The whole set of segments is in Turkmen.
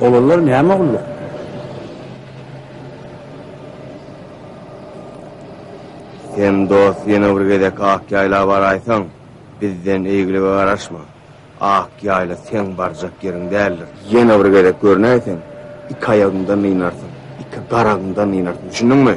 Olanlar näme gulluk? Sen dost ýene bir gezek Akýaýla baraýsaň, bizden eýgilige garaşma. Ak ýaýla seň barjak ýeriň däldir. Ýene bir gezek görnäýseň, iki aýagyňdan nynarsyň, iki garagyňdan nynarsyň, düşündiňmi?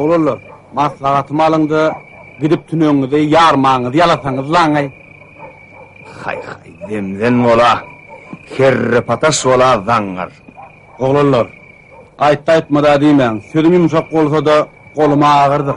Oglanlar, maslahatymy alyň-da, gidip tüneňiňizi ýarmagyňyzy ýalasaňyz laňaý. Haý-haý, demden bola, kerrepataş bola zaňňar. Oglanlar, aýtdy-aýtmady diýmäň, sözüm ýumşak bolsa-da, golum agyrdyr.